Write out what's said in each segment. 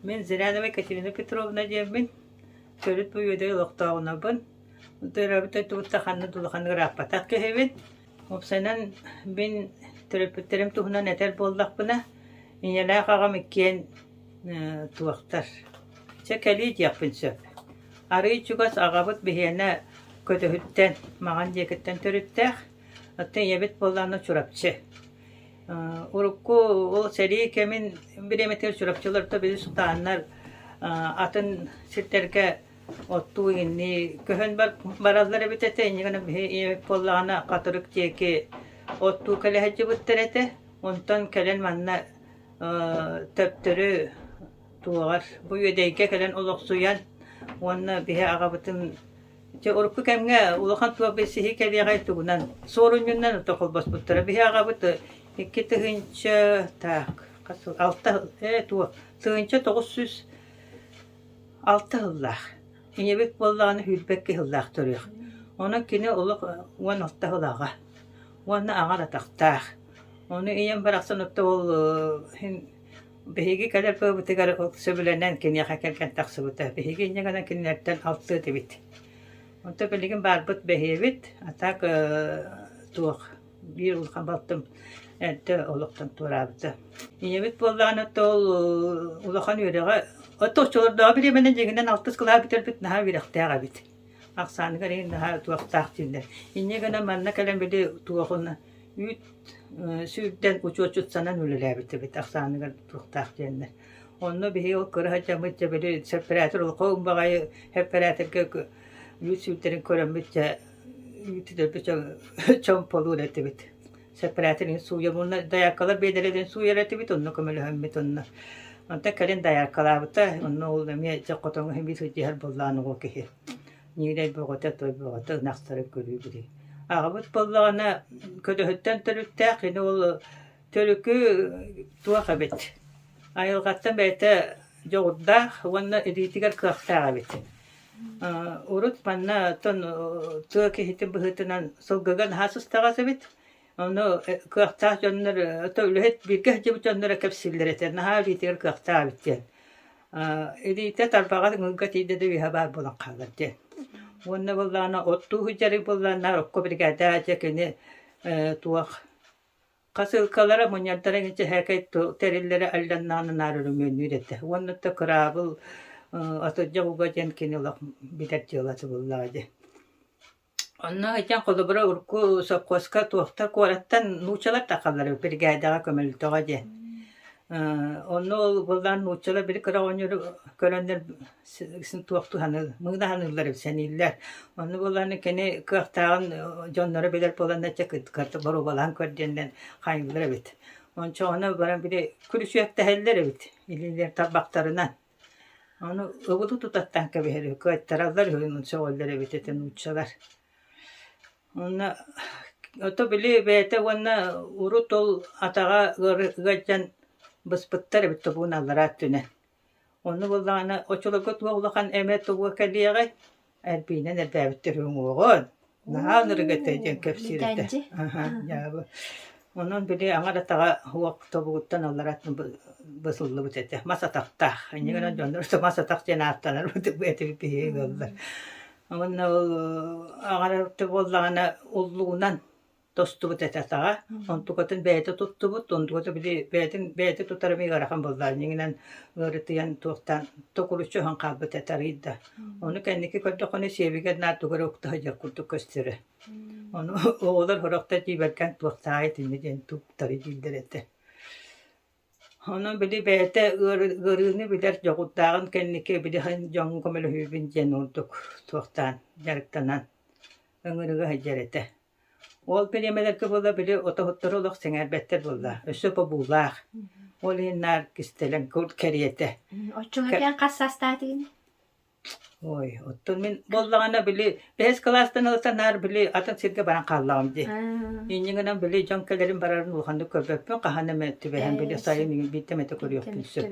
Мин Зырянова Катерина Петровна диэммин, төрүт Буйуодай олохтооҕунабын. Төрөөбүт дойдубутта ханна да улаханнык ырааппатах киһибин. Уопсайынан мин төрөппүттэрим туһунан этэр буоллахпына, ийэлээх аҕам иккиэн э, туохтар. Чэ, кэлии диэхпин сөп. Арыы чугас аҕабыт биһиэнэ көтөһүттэн, маҕан диэкиттэн төрүттээх. Оттон ийэбит буоллаҕына Чурапчы. Урукку ол сэрии кэмин бириэмэтигэр Чурапчыларга били сутааннар атын сирдэргэ оттуу-иҥнии көһөн бараллар эбит этэ. Инньэ гынан биһи ийэбит буоллаҕына Хатырык диэки оттуу кэлэ сылдьыбыттар этэ. Онтон кэлэн манна төптөрү туоҕар бу Үөдэйгэ кэлэн олохсуйан уонна биһи аҕабытын Чэ, урукку кэмҥэ улахан туох билсиһии кэлиэҕэй тугунан, суорунньуннан ото холбоспуттара. Биһи аҕабыт икки тыһыынча так, хас сыл, алта сыл, ээ туох, тыһыынча тоҕус сүүс алта сыллаах. Ийэбит буоллаҕына сүүрбэк киһи сыллаах төрүөх. Онон кини олох уон алта сылааҕа уонна аҕар атахтаах. Ону ийэм барахсан оттоол Биһиги кэлэр тылбытыгар сөбүлэнэн киниэхэ кэлгэн тахсыбыта. Биһиги инньэ гынан кинилэртэн алтыа этибит. Онтон билигин баарбыт бэһиэбит, а так туох биир улахан балтым эрдэ олохтон туораабыта. Ийэбит буоллаҕына ол улахан үөрэҕэ отторчолордооҕу бириэмэнэн дьиҥинэн алтыс кылаһа бүтэрбит наһаа үөрэхтээх эбит. Ахсааныгар иһин наһаа туохтаах дииллэр. Инньэ гынан манна кэлэн били туохуна үүт сүүрдэн учуотчут санан үлэлээбит эбит ахсааныгар туруктаах диэннэр. Онно биһи ол кыра садьаммыт дьэбили сеппаратор олохоон баҕайы сеппараторга үүт сүүрдэрин көрөммүт дьэ үүтүдэрбит чом полуур этибит. Сеппараторин сууйабынна даяккалар биэдэрэтин сууйар этибит онно көмөлөһөммүт онно. Онтон кэлин даяккалаабыта онно ол эмиэ дьэ хотоҥу химии сылдьыһар боллаан оҕо киһи. Ньиилэй бөҕөтө, той бөҕөтө ынахтары көрүү-билии. Аҕабыт буоллаҕына, көлөһүттэн төрүттээх, кини ол төрүкү туох эбит? Айылҕаттан бэйэтэ дьоҕурдаах уонна илиитигэр кыахтаах эбит. Урут манна оттон тыа киһитин быһыытынан сылгыга наһаа сыстаҕас эбит. Ону кыахтаах дьоннор, үлэһит бииргэ сылдьыбыт дьоннор кэпсииллэр этэ, наһаа илиитигэр кыахтаах эбит диэн. Илиитэ тарбаҕа ыҥыырга тиийдэ да үөһэ баар буолан хаалар диэн. Уонна буоллаҕына оттуу сылдьар буоллаҕына окко биригээдэҕэ дьэ кини туох хасыылкалара мунньардара инчэһээкэй тэриллэрэ алланнаан анаары өрөмүөннүүр этэ. Уонна да кыраабыл атырдьах уга диэн кини олох билэр дьыала субуллаҕа дии Онно итиэн холобура урукку сопхуоска туохта куораттан нууччалар тахаллар биригээдэҕэ көмөлтөҕө диэн. Онно ол буоллаан нууччалар били кыра оҕонньору көрөннөр туох туһаны мыынаһаныыллар сэнииллэр. Онно буоллаан кини кыахтааҕын дьонноро билэр буоланначча боруобалаан көр диэнинэн хаайыллар эбит. Ончооҕуна баран били күлүсүөттэһэллэр эбит илиилэр тарбахтарынан. Ону ыбыты тутаттаан кэбиһэр үһү, кыайтараллар үһү сөҕөллөр эбит этэ нууччалар. Уонна ото били бэйэтэ уонна урут ол атаҕа ыалдьан быспыттар эбит тобугун аллара өттүнэн. Онно буоллаҕына оччолорго туох улахан эмэ тобуга кэлиэҕэй? Альбинан эрдээбиттэр уҥуоҕун, наһаа ынырыга этэ диэн кэпсиир этэ. Аһа, дьаабы. Онон били аҥар атаҕа уох тобугуттан алларат бысыллыбыт этэ. Мас атахтаах. Инньэ гынан дьоннор мас атах диэн ааттанарбыт этибит биһиги ыаллар. Уонна аҥара буоллаҕына уллугунан тостубут этэ-таҕа, онтукатын бэйэтэ туттубут, онтуката били бэйэтин бэйэтэ тутар эмиэ ыарахан буоллаҕа, дьиҥинэн уларытыйан туохтаан токуруччу оһон хаалбыт этэ арыйда. Ону кэнники көрдөххүнэ сиэбигэр наар тугу эрэ ukта сылдьар курдук көстөрө. Ону оҕолор сорохтор дьиибэргэн туохтааҕай итиннэ диэн туктары дииллэр этэ. Онон били бэйэтэ ыарыыны билэр дьоҕурдааҕын кэнники били дьоҥҥо көмөлөһүүбүн диэн ордук туохтаан дьарыктанан ыҥырыга сылдьар этэ. Ол бириэмэлэргэ буола били отоһуттору олох сэҥээрбэттэр буолла. Өссө побуулаах. Ол иһин наар кистэлэҥ кур кэриэтэ. Оччоҕо кэм хас саастаатыгын? Ой, оттон мин буоллаҕына били бэһис кылаастан ылсан наар били атын сиргэ баран хааллаҕым дии. Инньэ гынан били дьон кэлэрин барарын улаханнык көрбөппүн, хаһан эмэ түбэһэн били сайын биирдэ эмэтэ көрүөхпүн сөп.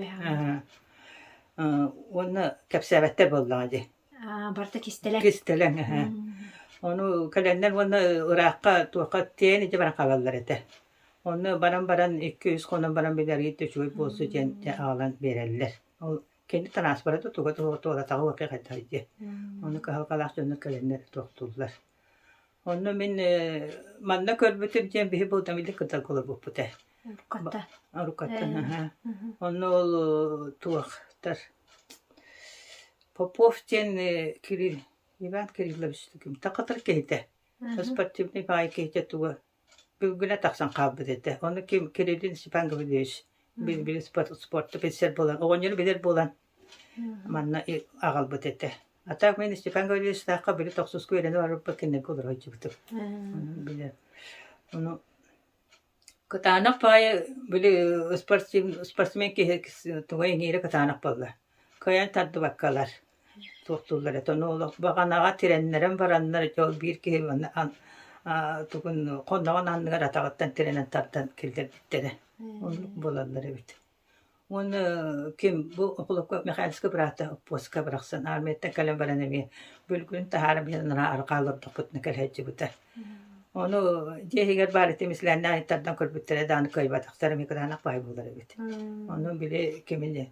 Уонна кэпсээбэттэр буоллаҕа дии. А, барыта кистэлэҥ. Кистэлэҥ, эһэ. М. Ону кэлэннэр уонна ыраахха туохха тиэйэн ити баран хаалаллар этэ. Онно баран баран икки-үс хонон баран билэргитэ үчүгэй буолсу диэн аҕалан биэрэллэр. Ол кини транспорта туга туора туоратаҕа уокка хайдах дии. М. Ону кыһалҕалаах дьоннор кэлэннэр туохтууллар. Онно мин манна көрбүтүм диэн биһи булдан илик кытан кулабуппута. Руккатта. Руккаттан, аһа. Онно ол туохтар Попов диэн Кирилл Иван Кириллович ким такытыр киһитэ. Спортивный баай киһитэ туга Күлгүнэ тахсан хаалбыт этэ. Ону ким Кириллин Степан Гаврильевич билбил спорт, спортту билсэр буолан, оҕонньору билэр буолан, манна аҕалбыт этэ. А так мин Степан Гаврильевичтаахха били тохсуску үөрэнэ барбыппыт кинилэргэ олору сылдьыбытым. Билэр. Ону кытаанах баайы били спортсмен спортсмен киһи тугай иҥиирэ кытаанах буолла. Кыайан тардыбаккалар. туоттууллар этэ. Ону олох баҕанаҕа тирэннэрэн бараннар, дьэ ол биир киһи маны тугун хоноҕун анныгар атаҕыттан тирэнэн тардан киллэрбиттэрэ. Оннук буолаллар эбит. Уонна ким бу Михайловскай быраата оппуоска барахсан армияттан кэлэн баран эмиэ бүлгүн таһааран биһэн арҕаа олордохпутуна кэлэһэччибита. Ону дьиэ иһигэр баар этим ислээннээн тардан көрбүттэрэ даҕаны кыайбатахтар эмиэ кыраанах баай буолар эбит. Ону били кимини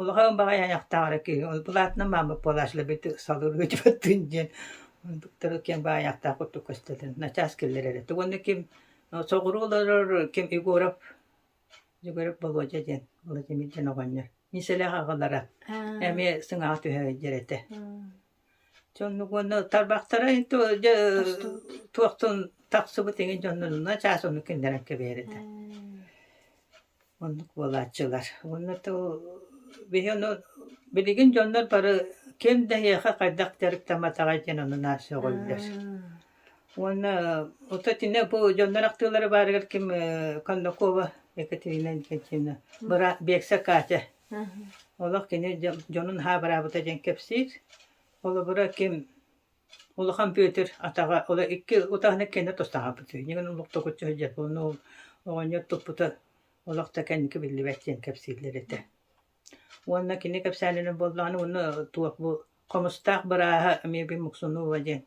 Улахан баҕайы айахтаах эрэ киһи, ол былаатынан маама Палашлаби салыырга өтүбэттин диэн быктары киэҥ баҕайы айахтаах курдук көстөтүн, начаас киллэрэрэ. Тугу уонна ким соҕуруу олорор ким Егоров, Егоров Володя диэн, Владимир диэн оҕонньор. Мин сэлэх аҕалара эмиэ сыҥаҕа түһэрэр этэ. Дьоннук уонна тарбахтара иһин туохтун тахсыбыт иҥин дьоннонунан чаас ону кинилэрэн кэбиэрэтэ. Оннук буолааччылар. Уонна биһи ону билигин дьоннор бары ким да эһиэхэ хайдах дьарыктамматаҕай диэн ону сөҕөллөр. Уонна ото итиннэ бу дьоннор ахтыылара баарыгар ким Конакова Екатерина Никитина быраат Бекса Катя Олох кини дьонун аһаа бараабыта диэн кэпсиир. Холобура ким Улахан Бүөтүр атаҕа ол икки утаһын иккиэннэ тустаах аһаппыт үһү. Дьиҥин охтокуччу сылдьар буолла ол оҕонньор туппута олох да кэнники биллибэт диэн кэпсииллэр этэ. Уонна кини кэпсээнинэн буоллаҕына уонна туох бу Хомустаах бырааһа эмиэ Муксунова диэн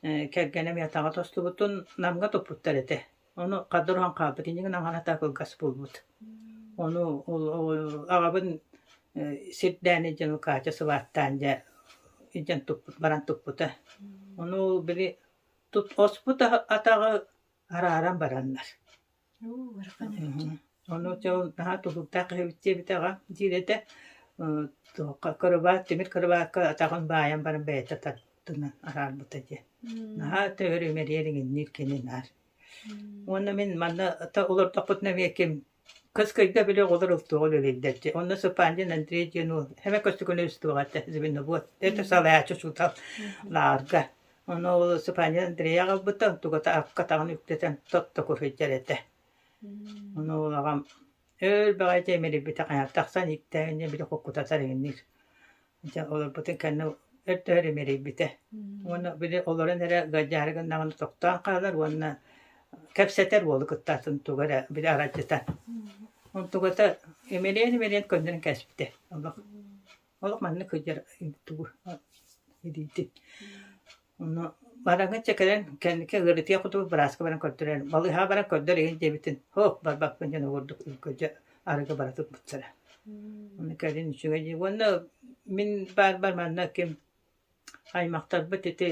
э, кэргэним атаҕа тостубутун Намга туппуттар этэ. Ону хадыр уһан хаалбыт иннигин аҥарата кылгас буолбут. Ону аҕабын сирдээн илдьэн ол Катя сылааттаан дьэ илдьэн туппут баран туппута. Ону ол били оспут атаҕы арааран бараннар Ону дьыл наһаа тулуурдаах эһэбит диэбитэҕэ диир этэ туохха кырыбаат тимир кырыбаакка атаҕын баайан баран бэйэтэ тардына араарбыта диэн наһаа төһөрүмэрийэр иҥинниир кини наар уонна мин манна олордохпутуна эмиэ кыс кыйга били оҕолор ылтыаҕа үлэлииллэр дии онно Сыпандин Андрей диэн уол эмэ көстүкүнэ үстүөҕэ этэ звенобот это салайааччы учуутал наарга Ону волосипаанньа Андрея аҕалбыта, тугата аккатаҕын үктэтэн тотто куһуйдар этэ. Ону ол аҕам өл баҕайы тиэмирийбитэ хайа тахсан иктээнньэ били куккутатар иҥниир. Дьэ олорбутун кэннэ өрдөһөр имэрийбитэ. Уонна били олорон эрэ гайдьаары гыннаҕына тохтоон хаалар уонна кэпсэтэр уолу кытта атын туга эрэ били аралдьытан. Онтугата имэриэн-имэриэн көннөрөн кэспитэ. Олох Олох маннык сылдьар тугу диити. Ону бараҥҥа чэкэлэн кэнники ыарытыа кутугу бырааска баран көрдөрөн балыыһаҕа баран көрдөр иһин диэбитин һо барбаппын дьон огурдук үлгөдьө арыгы бара турбуттара. Ону кэлин үчүгэй дии. Уонна мин баар бар манна ким аймахтарбыт ити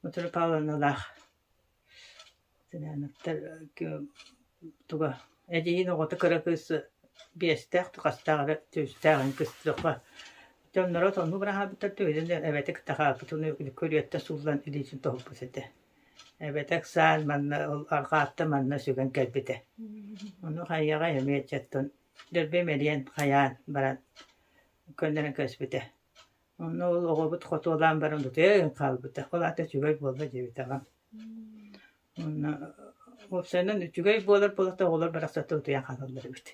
Мутура Павловналаах Сынаанаптар туга эдьиийин оҕото кыра кыыс биэстээх хастаах эрэ түстээҕин кыстыахха дьонноро сонун быраһаабыттар төһөнү да эбэтик такаакытын көрүөттэ сууллан илиитин тоһуппут этэ эбэтэ ыксаан манна ол арҕаатта манна сүгэн кэлбитэ ону хайаҕай эмиэ ыччаттан дөрбөй мэлийэн хайаан баран көннөрөн кэбиспитэ Онно ол оҕобут хотуолаан баран утуйан хаалбыта, ол аата үчүгэй буолла диэбит аҕам. Онно уопсайынан үчүгэй буолар буолата оҕолор барахсата утуйан хаалаллар эбит.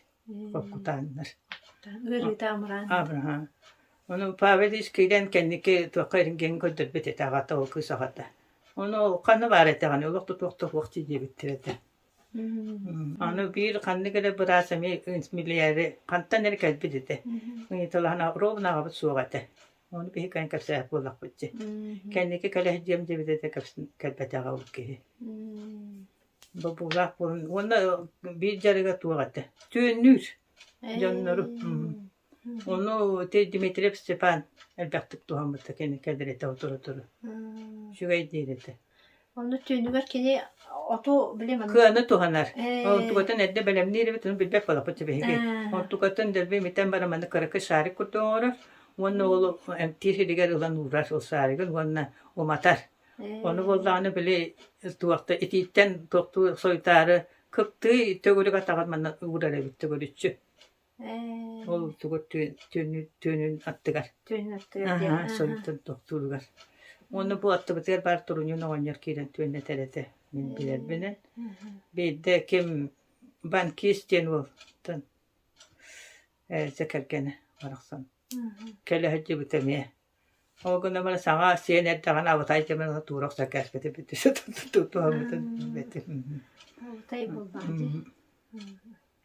Куккутааннар. Ыарыыта амраан. Амраан. Ону Павел искиирэн кэнники туохха ирингиэн көрдөрбүт этэ аҕата ол кыыс аҕата. Ону ханы баар этэҕин олох тутуох туох диэбиттэр этэ. Аны биир ханнык эрэ быраас эмиэ миллиэри хантан эрэ кэлбит этэ. Ыйыталаһан ровно аҕабыт суох этэ. Ону киһи кээн кэпсээх буоллахпыт дьэ. Кэнники кэлэһит диэм диэбит этэ кэлбэтэҕэ ол киһи. Бобуулаах буолан уонна биир дьарыга туох этэ. Түөннүүр дьоннору. Ону ити Дмитриев Степан элбэхтик туһаммыта кини кэдирэтэ отура-отура. Үчүгэй диир этэ. Ону түүнүгэр кини оту билим кыаны туһанар. Онтукатын эрдэ бэлэмниирэбит, ону билбэт буолаппыт сибэһиги. Онтукатын дэлби имитэн баран маны кыракы шарик курдук оҥорор. Уонна уолу эмтиир иһигэр ылан уурар ол шаригын уонна уматар. Ону буоллаҕына били туохта итииттэн туохтуу сойтаары кыптыы төгүрүк атаҕар манна уурар эбит төгүрүччү. Ол туга түөнүн аттыгар. Түөнүн аттыгар диэн. Аһа, соннуттан тохтууругар. Уонна бу аттыбытыгар баар туруньун оҕонньор киирэн түөннэтэр этэ. Мин билэрбинэн. Биирдэ ким Банкис диэн уолтан Зэ кэргэнэ барахсан. Кэлэ сылдьыбыт эмиэ. Ол гынан саҥа сиэн эрдэҕинэ абытай кэмин тура охсон кээспитин бүттэ туһаммытын билбэтим Абытай буолбаҕытый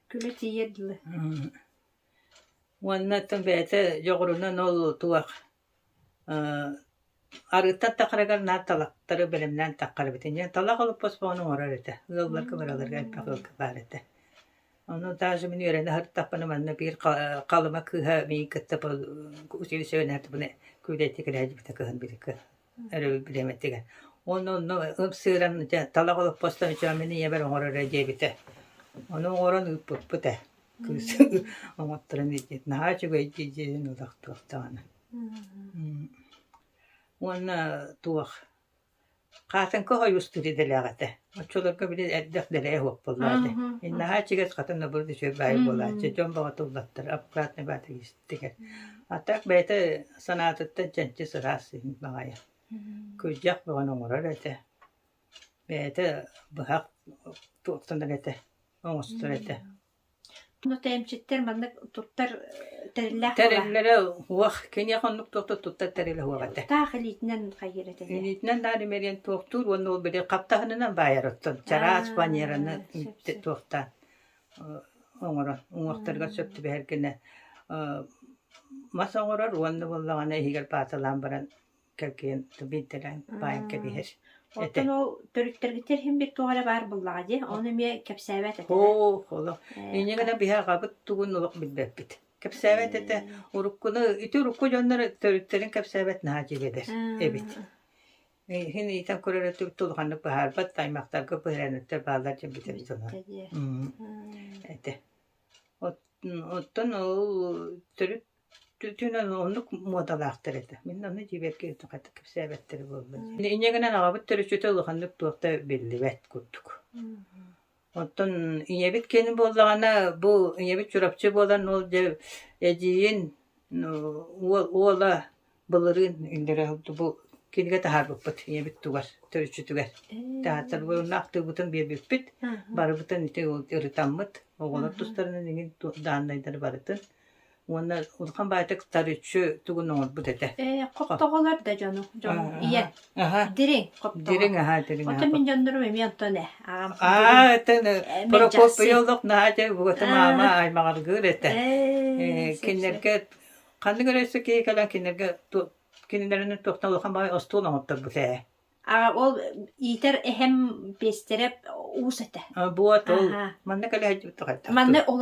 күлэ тиийэр дылы Уонна оттон бэйэтэ дьоҕурунан ол туох арыыттан тахарыгар наар талахтары бэлэмнээн таххарбытын диэн талах олоппос оҥорор этэ ыалларга бараларга элбэх ыалга баар этэ Ону даже мин үөрэнэ сырыттахпына манна биир Халыма кыыһа миигин кытта бу училищевэнаатыбыны күүлэйдик кэлээдибитэ кыһын бирикэ өрөбүл билиэмэтигэр. Уонна онно ымсыыран талах олоппостон мин ийэбэр оҥороро диэбитэ. Ону оҥорон ыыппыппыт ээ кыыс оҥотторон илдьит наһаа үчүгэй дии диэн ылах туох даҕаны. Уонна туох Хаатыҥка хойуустук идэлээх этэ. Оччолорго били элбэх дэлэйэ уоппаллаах этэ. Мин наһаа ичигэс хатан обурут үчүгэй баайы буолааччы. Дьон бөҕөтө уллаттар обкратнай баата истигэр. А так бэйэтэ санаатыттан чэнчис ыраас иһин баҕайы. Кырдьах бөҕөнү оҥорор этэ. Бэйэтэ быһах туоктанар этэ. Оҥостор этэ. Ну, тээмчиттэр маннык туттар тэриллээх Тэриллэрэ уох, киниэхэ оннук туохта туттар тэрилэ уох этэ. Таах илиитинэн хайыыр этэ. Илиитинэн даар имэрийэн туохтуур уонна ол били хаптаһынынан баайар оттон чараас Аа, баньераны сөп, сөп. туохтаан оҥорон уҥуохтарыгар сөп түбэһэр гинэ мас оҥорор уонна буоллаҕына иһигэр пааталаан баран кэргэн биирдэрэн баайан кэбиһэр Оттон ол төрүттэргиттэн иһин бир туох эрэ баар буллаҕа дии, ону эмиэ кэпсээбэт этэ. Оо, оло. Иннигэ да биһи аҕабыт тугун олох билбэппит. Кэпсээбэт этэ. Уруккуну, ити урукку дьоннор төрүттэрин кэпсээбэт наһаа дьигэдэр эбит. Иһин иитэн көрөрө түртө улаханнык быһаарбат, аймактарга быһыраныттар баалар дьон бүтэр дьоно. Этэ. Оттон ол төрүт Түүнэн оннук муодалаахтар этэ. Мин аны дьиэбэр киирэн хатык кэпсээбэттэрэ буоллун диэн. Инньэ гынан аҕабыт төрүччүтэ улаханнык туох да биллибэт курдук. Оттон ийэбит киэн буоллаҕына бу ийэбит Чурапчы буолан ол дьэ эдьиийин уол уола былырыын иннирэ бу кинигэ таһаарбыппыт ийэбит тугар төрүччүтүгэр. Театрбытын ахтыыбытын биэрбиппит, барыбытын ити ырытаммыт, оҕолор тустарынан иҥин дааннайдары барытын. Уонна улахан баайтык тарүччү тугун оҥорбут этэ. Ээ, хоптоҕолор да дьону, дьону ийэ. Дириҥ, хоптоҕо. Дириҥ, аhaa, дириҥ. Оттон мин дьоннорум эмиэ онтон ээ. Аа, этэн Прокопий олох наадя буота маама аймаҕаргыыр этэ. Кинилэргэ Ханнык эрэ өссө киһи кэлэн кинилэргэ кинилэрин туохтан улахан баҕайы остуол оҥотторбут ээ. А ол иитэр эһэм пиэстэрэ уус этэ. Буот ол манна кэлэ сылдьыбыт тоҕайдах. Манна ол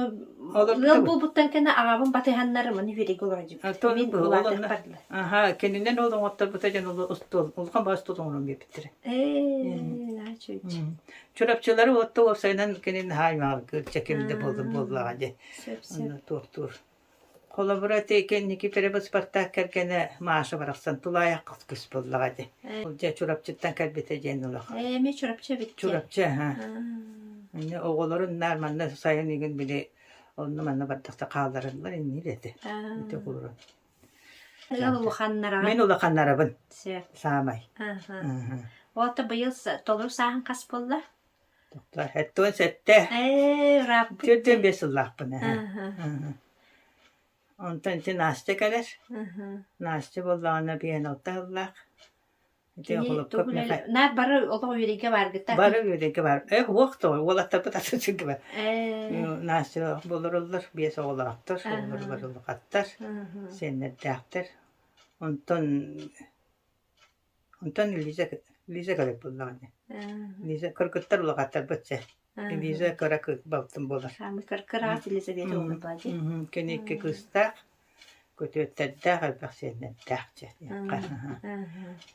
ыал буолбуттан кэннэ аҕабын батыһаннар маны үөрэйгэ олордубут. Мин улаатарбардым. Аха, кининэн ол оҥотторбута дьон остуол улахан баҕа остуол оҥорон биэрбиттэрэ. Ээ, аа чүч. Чурапчылары отто уопсайынан кинин хааймаҕа кырча кимde болдун буоллаҕа дьэ. Туохтуур. Холобур, ити кэнники төрөбүт Спартак кэргэнэ Маша барахсан тулаайахха көс буоллаҕа ити. Дьэ Чурапчыттан кэлбитэ диэн олох. Эми Чурапчы эбит. Чурапчы, аһа. Инньэ оҕолорун наар манна сайын игин били онну-манна бардахта хааллараллар иннии дэти. Ити оҕолорун. Өлөр улаханнара. Мен улаханнарабын. Сэ. Саамай. Аха. Ота быйыл толук сааһын хас болла? Оттон сэттэ Ээ, ыраахпыт Төрдүөн биэс сыллаахпын эһэ. Аһа, Аһа. Онтон ити Настя кэлэр. аһа. Настя буоллаҕына биһэн алта сыллаах. Ити Кини холоппоп тугун Мэхэ- эле- Наар бары олох үөрүйгэ баргыта. Бары үөрэгэ бар. Эх, уох то уолаттарбыт атын сиргэ бар. Ээ, Настя болоруллар, биэс оҕолоохтор, Аһа. олорлор улахаттар, аһа. сиэннэрдээхтэр. Онтон Онтон Лиза, Лиза Гарыпыллаҕа ини. Лиза кыргыттар улаҕаттарбыт сэ. Лиза кыра кыыс балтым буолар. Ами кыркыраат Елизавета Оҕунапаа дии. Кини икки кыыстаах, көтүөттэрдээх, элбэх сиэннэрдээх дьэ.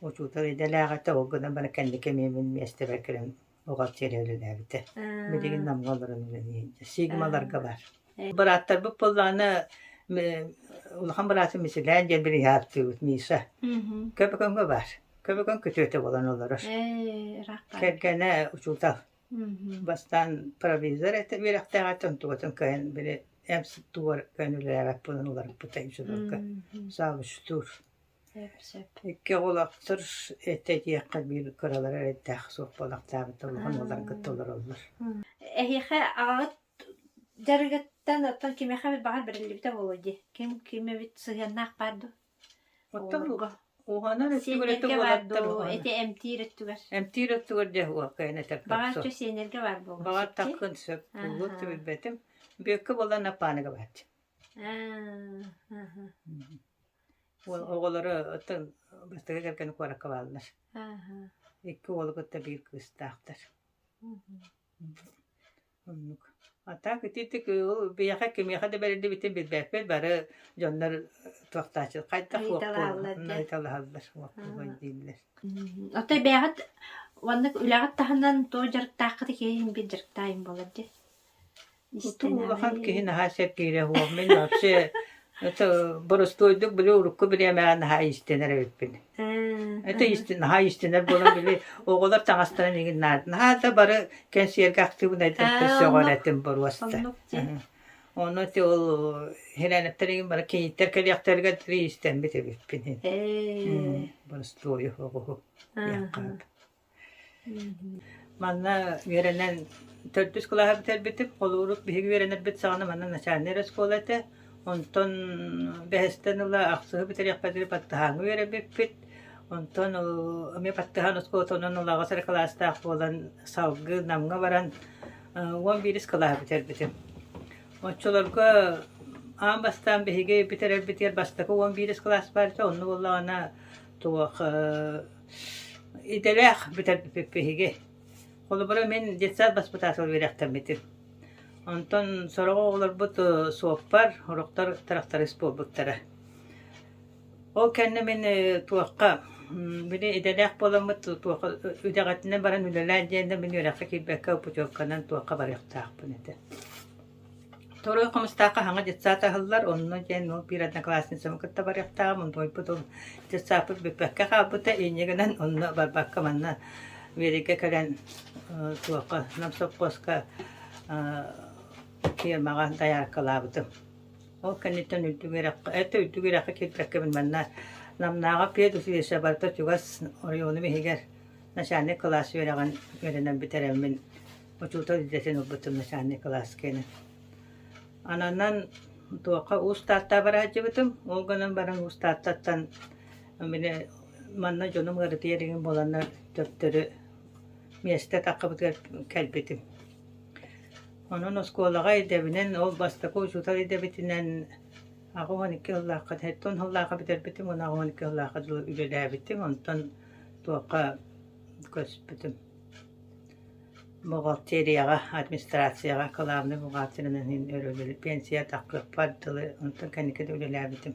Учуутал идэлээх этэ, ол гынан баран кэнники миэмин миэстэбэр кэлэн оҕо сиэн үлэлээбитэ. Билигин Намга олорон үлэлиир. Сигмаларга бар. Бырааттарбыт буоллаҕына улахан быраатын Мисилээн диэн бириһааттыыбыт Миса. Көбөкөҥҥө бар. Көбөкөҥ күтүөтэ болон олорор. Кэргэнэ учуутал. Бастаан провизор этэ үөрэхтээҕиттэн тугатын кыайан били эмс туор көн үлэлээбэт буолан уларыппыта дьулурга. Саабыстуур. Икки оҕолоохтор этэ диэххэ биир кыралара эрэйдээх суох буолахтаабыта улахан уолларга толороллор. Эһиэхэ аҕаҕыт дьарыгыттан оттон кимиэхэ баҕар бэриллибитэ буолуой дии? Ким кимэбит сыһыаннаах баар дуу? Оттон уһанар өттүгэр баар дуу? Ити эмтиир өттүгэр. Эмтиир өттүгэр дьэ уоккайан этэр Баҕар чэ сиэннэргэ баар буолуо. Баҕар таххын сөп. Булуот да билбэтим. Бүөккэ буолан Аппааныга бааччы. Аа, аха. Уол оҕолоро оттон бастакы кэргэнэ куоракка бааллар. Икки уолу кытта биир кыыстаахтар. Оннук. А так ититик ол биһиэхэ кимиэхэ да бэриллибитин билбэппит бары дьоннор туохтааччы хайдах ыйыталаһаллар уоппуруй дииллэр. Отой бэйэҕит уонна үлэҕит таһынан туох дьарыктааххытый киһи биир дьарыктаайым буолар дии. улахан киһи наһаа сэргиирэ уо мин вообще это борустуойдук били урукку бириэмэҕэ наһаа истинэр эбиппин это истин наһаа истинэр буолан били оҕолор таҥастарын игин наада наһаа да бары кэнсиэргэ актыыбынайдан көсөҕөр этим боруоста ону ти ол хирээниптэригин бары киһиттэр кэлиэхтэригэр тири истэммит эбиппин борустуой оҕуһу яққаап Манна үөрэнэн төрдүс кылааһы бүтэрбитим. Холууру биһиги үөрэнэрбит саҕана манна начальнай оскуола этэ. Онтон бэһэстэн ыла ахсыһы бүтэриэхпит диэри баттаһааҥы үөрэбиппит. Онтон ол эмиэ баттаһаан оскуолатынан ол аҕа сыра кылаастаах буолан салгыы Намҥа баран уон биирис кылааһы бүтэрбитим. Оччолорго аан бастаан биһиги бүтэрэрбитигэр бастакы уон биирис кылаас баар этэ. Онно буоллаҕына туох Идэлээх бүтэрбиппит биһиги. Холобура мин детсад баспытаатыла үөрэхтэммитим. Онтон сороҕо оҕолорбут суоппар, ороктор тырахтарыс буолбуттара. Ол кэннэ мин туохха били идэлээх буоламмыт туохха идэҕитинэн баран үлэлээн диэн да мин үөрэххэ киирбэккэ путевканан туохха барыахтаахпын этэ Второй хомустаах хаһаҥа детсад аһыллар, онно диэн ол биир одноклассницабын кытта барыахтааҕым, утуйбут ол детсадпыт бүппэккэ хаалбыта, инньэ гынан онно барбакка манна Верига кэлэн э, туохха, Нам сопхуоска э, фирмаҕа дояркалаабытым. Ол кэнниттэн үрдүк үөрэххэ, это үрдүк үөрэххэ киирбэккэбин манна Намнааҕа педучилище барыта чугас оройуонум иһигэр начальник кылаас үөрэҕин үөрэнэн бүтэрэммин учуутал идэтин ылбытым начальнай кылааска инэн. Ананан туохха уус Тааттаҕа бараадьыбытым. Ол гынан баран уус Тааттаттан мини манна дьонум ыарытыйар игин буоланнар төптөрү миэстэ таккыбытыгар кэлбитим. Онон оскуолаҕа идэбинэн ол бастакы учуутал идэбитинэн аҕа уон икки сыллаахха сэттэ сыллаахха бүтэрбитим уон аҕа уон икки сыллаахха дылы үлэлээбитим онтон туохха көспүтүм. Бухгалтерияҕа, администрацияҕа кылаабынай бухгалтерынан иһин өрөбүл, пенсия, тахсыахпар дылы, онтон кэнники да үлэлээбитим